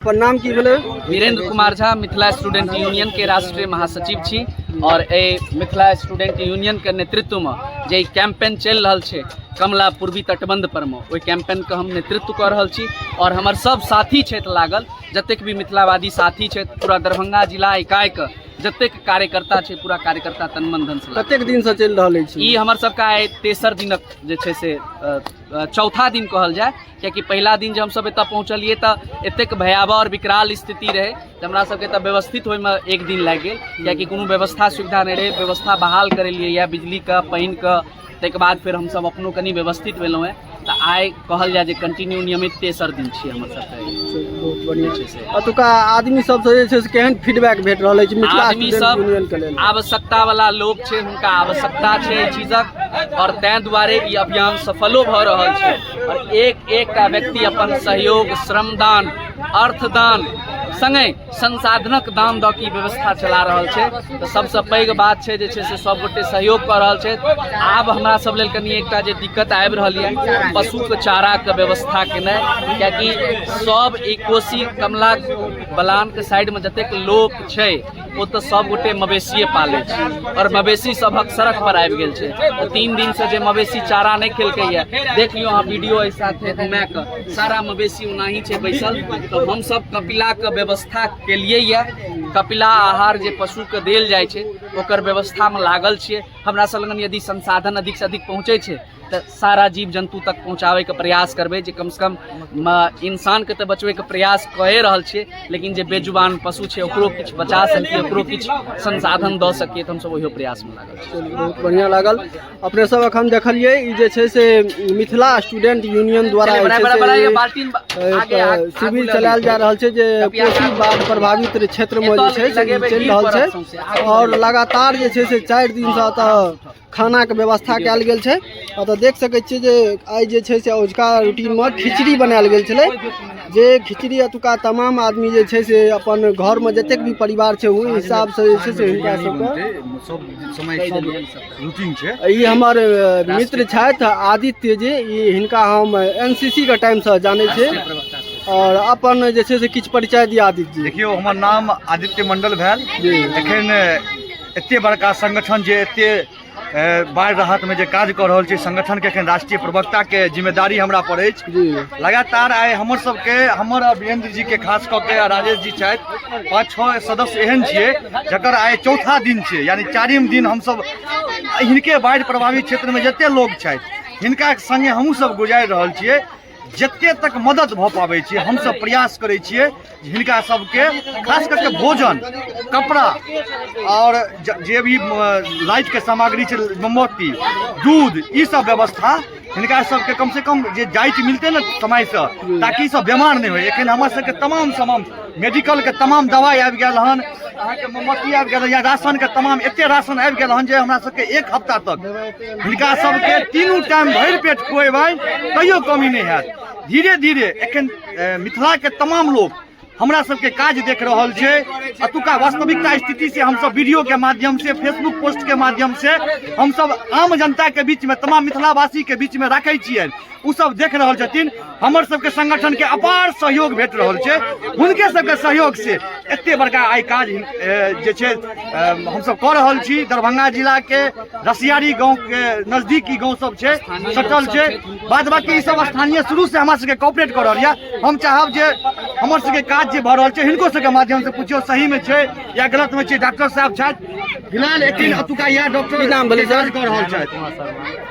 अपन नाम की भेलै वीरेंद्र कुमार झा मिथिला स्टूडेंट यूनियन के राष्ट्रीय महासचिव छी और ए मिथिला स्टूडेंट यूनियन के नेतृत्व में जे कैंपेन चल रहा है कमला पूर्वी तटबंध पर में ओहि कैंपेन के हम नेतृत्व कर रहा छी और हमारे सब साथी क्षेत्र लागल जतेक भी मिथिलावादी साथी क्षेत्र पूरा दरभंगा जिला इकाई के जतेक कार्यकर्ता छै पूरा कार्यकर्ता तन मन धन से कतेक दिन से चल रहा है ई हमर सबका आइ तेसर दिनक जे छै से चौथा दिन कहल जाए कियाकि पहिला दिन जे हमसभ एतय पहुँचलियै तऽ एतेक भयावह आओर विकराल स्थिति रहै जे हमरा सभके एतय व्यवस्थित होइमे एक दिन लागि गेल कियाकि कोनो व्यवस्था सुविधा नहि रहै व्यवस्था बहाल करेलियै यए बिजलीके पानिके ताहिके बाद फेर हमसभ अपनो कनि व्यवस्थित भेलहुँ हेँ तऽ आइ कहल जाय जे कंटिन्यू नियमित तेसर दिन छियै हमर सभके बहुत बढ़िया छै से अतुका आदमी सब जे छै से केहन फीडबैक भेट रहल अछि मिथिला आदमी स्टूडेंट सब यूनियन के लेल आवश्यकता वाला लोक छै हुनका आवश्यकता छै एहि चीजक आओर ताहि दुआरे ई अभियान सफलो भऽ रहल छै आओर एक एकटा व्यक्ति अपन सहयोग श्रमदान अर्थदान सङ्गे संसाधनक दान दऽ की व्यवस्था चला रहल छै तऽ सभसँ पैघ बात छै जे छै से सभगोटे सहयोग कऽ रहल छथि आब हमरा सभ लेल कनि एकटा जे दिक्कत आबि रहल यए पशुके चाराके व्यवस्था केनाइ किएकि सभ ई कोसी कमला बलानके साइडमे जतेक लोक छै ओ तऽ सब गोटे मवेशिये पालै छै आओर मवेशी सबहक सड़क पर आबि गेल छै तऽ तीन दिन से जे मवेशी चारा नहि खेलकै या देख लियौ अहाँ वीडियो एहि साथ घुमा कऽ सारा मवेशी ओनाही छै बैसल तऽ हमसब कपिला के व्यवस्था केलियै या कपिला आहार जे पशु के देल जाइ छै ओकर व्यवस्था मे लागल छियै हमरा सब लगन यदि संसाधन अधिक से अधिक पहुँचै छै तऽ सारा जीव जन्तु तक पहुँचाबैके प्रयास करबै जे कमसँ कम म- इंसानके तऽ बचबैके प्रयास कए रहल छियै लेकिन जे बेजुबान पशु छै ओकरो किछु बचा सकिए ओकरो किछु संसाधन दऽ सकिए तऽ हमसभ ओहियो प्रयासमे लागल छी चलू, बहुत बढ़िया लागल अपने सब अखन देखलिए ई जे छै से मिथिला स्टूडेंट यूनियन द्वारा जे बड़ा- छै बड़ा- बड़ा ये से बाल्टीन बा- आगे- एक आगे- आगे शिविर ले चलायल लिअ। जा रहल छै जे कपिया कोशी गाछ। बाढ़ प्रभावित क्षेत्र मे जे एतय छै से ई लगेबै चलि गिर रहल पड़त छै सौंसे, आगू आओर लगातार जे छै से चारि दिन से एतऽ खानाके व्यवस्था कयल गेल छै अतऽ देख सकै छियै जे आइ जे छै से अजुका रूटीनमे खिचड़ी बनायल गेल छलै जे खिचड़ी एतुका तमाम आदमी जे छै से अपन घरमे जतेक भी परिवार छै ओहि हिसाबसँ जे छै से हुनका सबके सब समय सब रूटीन छै ई हमर अ, मित्र छथि आदित्य जी ई हिनका हम एन सी सी के टाइमसँ जानै छी आओर अपन जे छै से किछु परिचय दिया आदित्य जी देखियौ हमर नाम आदित्य मंडल भेल जी। एखन एते बड़का संगठन जे एते बाढ़ि राहतमे जे काज कऽ रहल छै संगठनके एखन राष्ट्रीय प्रवक्ताके जिम्मेदारी हमरा पर अछि लगातार आइ हमर सबके हमर आ वीरेंद्र जीके खास कऽ के आ राजेश जी छथि पाँच छओ सदस्य एहन छियै जकर आइ चौथा दिन छै यानी चारिम दिन हमसब हिनके बाढ़ि प्रभावित क्षेत्रमे जते लोक छथि हिनका सङ्गे हमहूँ सब गुजारि रहल छियै जते तक मदद भऽ पाबै छै हमसभ प्रयास करै छियै जे हिनका सभके खास करके भोजन कपड़ा आओर ज- जे भी लाइटके सामग्री छै मोमबत्ती दूध ई सब व्यवस्था हिनका सभके कमसँ कम जे जाइत मिलतै ने समयसँ ताकि ई सब बेमार नहि होय एखन हमर सभके तमाम तमाम मेडिकलके तमाम दवाइ आबि गेल हन अहाँके मोमबत्ती आबि गेल हन या राशनके तमाम एतेक राशन आबि गेल हन जे हमरा सभके एक हफ्ता तक हिनका सबके तीनू टाइम भरि पेट खुएबै तैयो कमी नहि हैत धीरे धीरे एखन मिथिलाके तमाम लोक हमरा सबके काज देख रहल छै अतुका वास्तविकता स्थिति से हम सब वीडियो के माध्यम से फेसबुक पोस्ट के माध्यम से हम सब आम जनता के बीच में तमाम मिथिलावासी के बीच में राखे छियनि ओ सब देख रहल छथिन हमर सबके संगठन के अपार सहयोग भेट रहल छै हुनके सबके सहयोग से एते बड़का आइ काज जे छै हमसब कऽ रहल छी दरभंगा जिला के रसियारी गाँव के नजदीकी गाँव सब छै सटल छै बाद बाकी ई सब स्थानीय शुरू से हमरा सबके कॉपरेट कऽ रहल यऽ हम चाहब जे हमर सबके काज जे भऽ रहल छै हिनको सबके माध्यम से पूछियो सही में छै या गलत में छै डॉक्टर साहब छथि फिलहाल एखन अतुका इएह डॉक्टर नाम भेलै कऽ रहल छथि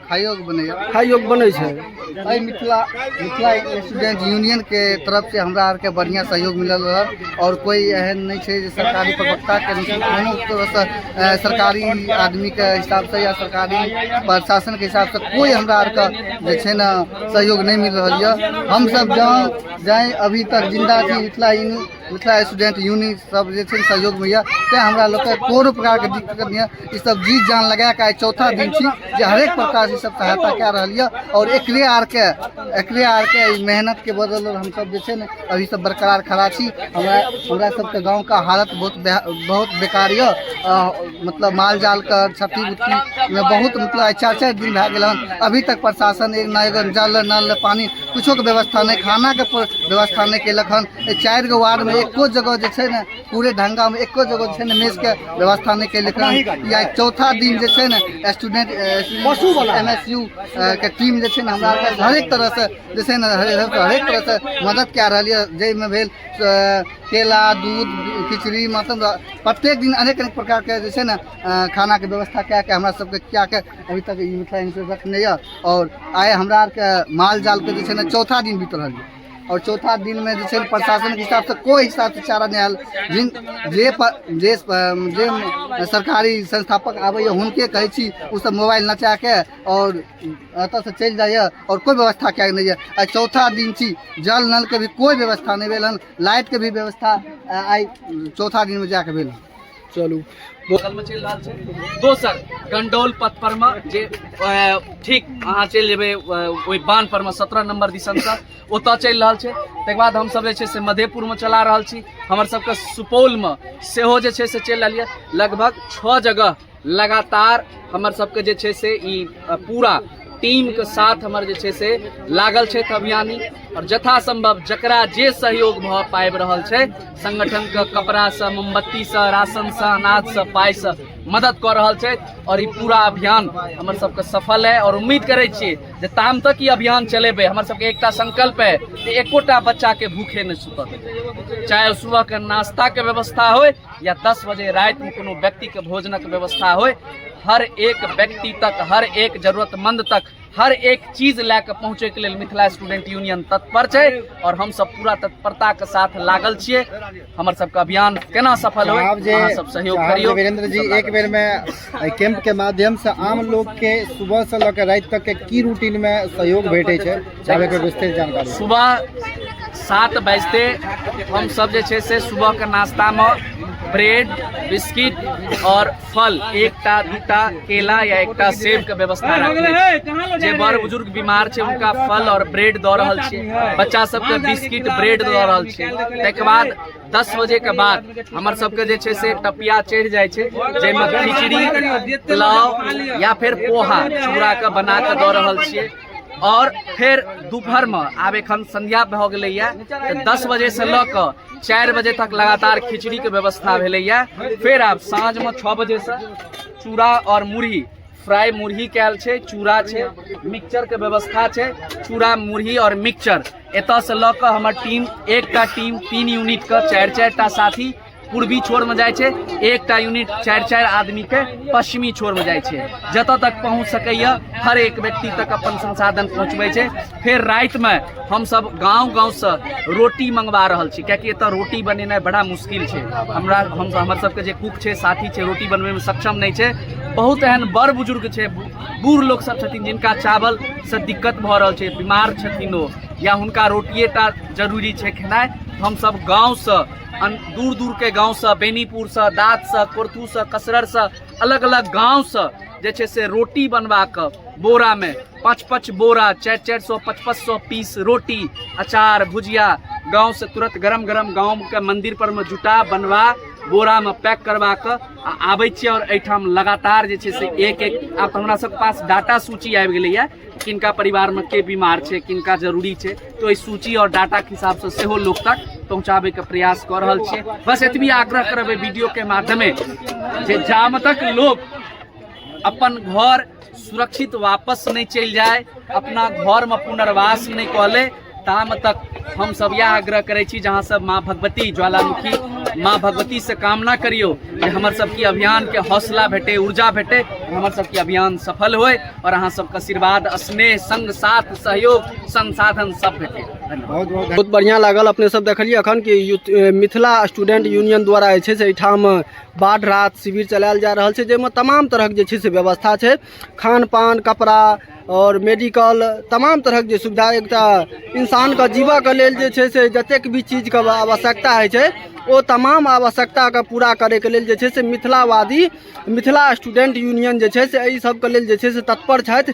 खाइयो के बनैया खाइयो के बनै छै एहि मिथिला मिथिला स्टूडेंट यूनियन के तरफ से हमरा आर के बढ़िया सहयोग मिलल रह और कोई एहन नहीं छै जे सरकारी प्रवक्ता के नहीं छै। कोनो तरह से अ, सरकारी आदमी के हिसाब से या सरकारी प्रशासन के हिसाब से कोई हमरा आर के जे छै ने सहयोग नहीं मिल रहल यऽ हम सब जहाँ जाए अभी तक जिंदा छी Mithila union Mithila student union सब जे छै सहयोग में तैं हमरा लोग के कोनो प्रकार के दिक्कत नहीं है ई सब जी जान लगा के चौथा दिन छी जे हरेक प्रकार से सब सहायता कए रहल ये और एकरे आर के एकरे आर के मेहनत के बदल हम सब जे छै ने अभी सब बरकरार खड़ा छी हमरा हमरा सब के गांव का हालत बहुत बहुत बेकार ये मतलब माल जाल के क्षति उति में बहुत मतलब आइ चारि चारि दिन भए गेल हन अभी तक प्रशासन एक ना एगो जल नल पानी कुछो के व्यवस्था नहि खाना के प- व्यवस्था नहि केलक हन एहि चारि गो वार्ड में एको जगह जे छै ने पूरे ढंगा में एको जगह जे छै ने मेस के व्यवस्था नहि केलक हन ई आइ चौथा दिन जे छै ने स्टूडेंट एम एस यू के टीम जे छै ने हमरा आरके हरेक तरह से जे छै ने हरे- हरेक तरह से मदद कए रहल यऽ जाहिमे भेल केला दूध खिचड़ी मतलब प्रत्येक दिन अनेक अनेक प्रकारके जे छै ने खानाके व्यवस्था कए कऽ हमरा सबके खिया कऽ अभी तक ई मिथिला यूनिवर्सिटी रखने यऽ आओर आइ हमरा आरके माल जालके जे छै ने चौथा दिन बीत रहल यऽ आओर चौथा दिनमे जे छै ने प्रशासनके हिसाबसँ कोइ हिसाबसँ चारा नहि आयल जिन जे प- जे प- जे सरकारी संस्थापक आबैए हुनके कहै छी ओसभ मोबाइल नचा कऽ आओर एतऽसँ चलि जाइए आओर कोइ व्यवस्था कयल नहि यऽ आइ चौथा दिन छी जल नलके भी कोइ व्यवस्था नहि भेल हन लाइटके भी व्यवस्था आ, आइ चौथा दिनमे जाके भेल हन। चलू बगल में चल रहा है दोसर गंडौल पथ पर में जे अ, ठीक अहाँ चलि जेबै अ, ओहि बान पर में सत्रह नंबर दिसन से ओतऽ चलि रहल छै तकर बाद हमसब जे छै से मधेपुर में चला रहल छी हमर सबके सुपौल में सेहो जे छै से चलि रहल यऽ लगभग छओ जगह लगातार हमर सबके जे छै से ई अ, पूरा टीम के साथ हमर जे छै से लागल छै अभियानी और जथा संभव जकरा जे सहयोग भऽ पाबि रहल छै संगठन के कपड़ा से मोमबत्ती से राशन से अनाज से पाई से मदद कऽ रहल छै और ई पूरा अभियान हमर सबके सफल है और उम्मीद करै छी जे ताम तक ई अभियान चलेबै हमर सबके एकटा संकल्प है जे एकोटा बच्चा के भूखे नहि सुतऽ देबै चाहे ओ सुबह के नाश्ता के व्यवस्था होय या दस बजे रातिमे कोनो व्यक्तिके भोजनक व्यवस्था होय हर एक व्यक्ति तक हर एक जरूरतमंद तक हर एक चीज लए कऽ पहुँचैके लेल मिथिला स्टूडेंट यूनियन तत्पर छै आओर हमसभ पूरा तत्परताके साथ लागल छियै हमर सबके अभियान केना सफल होय अहाँ सब सहयोग करियौ वीरेंद्र जी एक बेर में एहि कैंप के माध्यम से आम लोग के सुबह से लऽ के राति तक के की रूटीन में सहयोग भेटे छै चाहे के विस्तृत जानकारी सुबह सात बजते हम सब जे छै से सुबह के नाश्ता में ब्रेड बिस्किट और फल एकटा दूटा केला या एकटा सेब के व्यवस्था रखले छी। जे बड़ बुजुर्ग बीमार छै उनका फल और ब्रेड दऽ रहल छी बच्चा सबके बिस्किट ब्रेड दऽ रहल छी ताहिके बाद दस बजे के बाद हमर सबके जे छै से टपिया चढ़ि जाइ छै जाहिमे खिचड़ी पुलाव या फेर पोहा चूड़ा के बना के दऽ रहल छियै और फेर दोपहर में आब एखन संध्या भऽ गेलैया तऽ दस बजे से लऽ कऽ चारि बजे तक लगातार खिचड़ी के व्यवस्था भेलैया फेर आब साँझ में छः बजे से चूड़ा और मुरही फ्राई मुरही कयल छै चूड़ा छै मिक्सचर के व्यवस्था छै चूड़ा मुरही और मिक्सचर एतय से लऽ कऽ हमर टीम एकटा टीम तीन यूनिट के चारि चारि टा साथी पूर्वी छोर में जाय छै एकटा यूनिट चारि चारि आदमी के पश्चिमी छोर में जाय छै जतऽ तक पहुँच सकैया हर एक व्यक्ति तक अपन संसाधन पहुँचबै छै फेर रात में हम सब गांव गांव से रोटी मंगवा रहल छी कियाकि एतऽ रोटी बनेनाइ बड़ा मुश्किल छै हमरा हम हमर सबके जे कुक छै साथी छै रोटी बनबे में सक्षम नहीं छै बहुत एहन बड़ बुजुर्ग छै बूढ़ लोग सब छथिन जिनका चावल से दिक्कत भ रहल छै बीमार छथिन ओ या हुनका रोटिए टा जरूरी छै खेनाइ हम सब गांव से दूर दूर के गांव से बेनीपुर से दात से कोरथू से कसरर से अलग अलग गांव से जे छै से रोटी बनवा के बोरा में पाँच पाँच बोरा चारि चारि सौ पाँच पाँच सौ पीस रोटी अचार भुजिया गाँव से तुरंत गरम गरम गाँव के मंदिर पर में जुटा बनवा बोरा में पैक करवा के आ आबै छियै और एहिठाम लगातार जे छै से एक एक आब हमरा सब पास डाटा सूची आबि गेलै है किनका परिवार में के बीमार छै किनका जरूरी छै तो एहि सूची और डाटा के हिसाब से सेहो लोक तक पहुँचाबै के प्रयास कऽ रहल छियै बस एतबी आग्रह करबै वीडियो के माध्यमे जे जाम तक लोक अपन घर सुरक्षित वापस नहीं चल जाए अपना घर में पुनर्वास नहीं कहले ताम तक हम सब यह आग्रह करे छी जहाँ सब माँ भगवती ज्वालामुखी माँ भगवती से कामना करियो कि हमर सबके अभियान के हौसला भेटे ऊर्जा भेटे हमर सबके अभियान सफल होए और अहाँ सबके आशीर्वाद स्नेह संग साथ सहयोग संसाधन सब भेटे धन्यवाद बहुत बहुत बहुत बढ़िया लागल अपने सब देखलिए अखन कि यूथ- ए, मिथिला स्टूडेंट यूनियन द्वारा जे छै से एहिठाम बाढ़ राहत शिविर चलायल जा रहल छै जाहिमे तमाम तरहक जे छै से व्यवस्था छै खान पान कपड़ा आओर मेडिकल तमाम तरहक जे सुविधा एकटा इंसानके जीबऽके लेल जे छै से जतेक भी चीजके आवश्यकता होइ छै ओ तमाम आवश्यकताके पूरा करैके लेल जे छै से मिथिलावादी मिथिला स्टूडेंट यूनियन जे छै से एहि सबके लेल जे छै से तत्पर छथि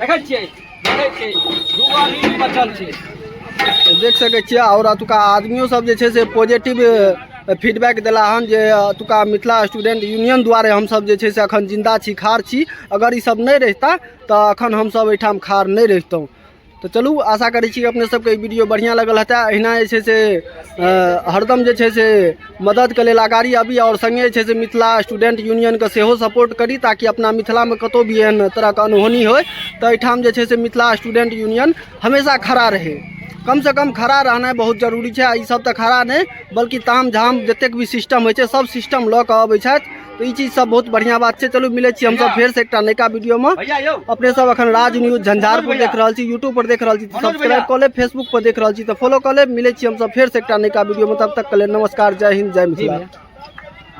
देखै छियै देखै छियै दू गो आदमी बचल छै देख सकै छियै आओर अतुका आदमियो सब जे छै से पॉजिटिव फीडबैक देला हन जे अतुका मिथिला स्टूडेंट यूनियन द्वारे हमसब जे छै से अखन जिंदा छी खार छी अगर ई सब नहि रहिता तऽ अखन हमसब एहिठाम खार नहि रहितहुँ तऽ चलू आशा करै छी अपने सबके ई वीडियो बढ़िआँ लगल हेतै अहिना जे छै से हरदम जे छै से मददके लेल अगाड़ी अबी आओर सङ्गे छै से मिथिला स्टूडेंट यूनियनके सेहो सपोर्ट करी ताकि अपना मिथिलामे कतहु भी एहन तरहके अनहोनी होय तऽ एहिठाम जे छै से मिथिला स्टूडेंट यूनियन हमेशा खड़ा रहै कमसँ कम खड़ा रहनाइ बहुत जरूरी छै आ ईसभ तऽ खड़ा नहि बल्कि ताम झाम जतेक भी सिस्टम होइ छै सभ सिस्टम लऽ कऽ अबै छथि तो ई चीज सब बहुत बढ़िया बात छै चलू मिले छी हम सब फेर से एकटा नयका वीडियो में भैया यो अपने सब अखन राज न्यूज झंझारपुर देख रहल छी यूट्यूब पर देख रहल छी मनोज सब्सक्राइब भैया। कऽ लेब फेसबुक पर देख रहल छी तऽ फॉलो कऽ लेब मिले छी हम सब फेर से एकटा नयका वीडियो में तब तक के लेल नमस्कार जय हिंद जय मिथिला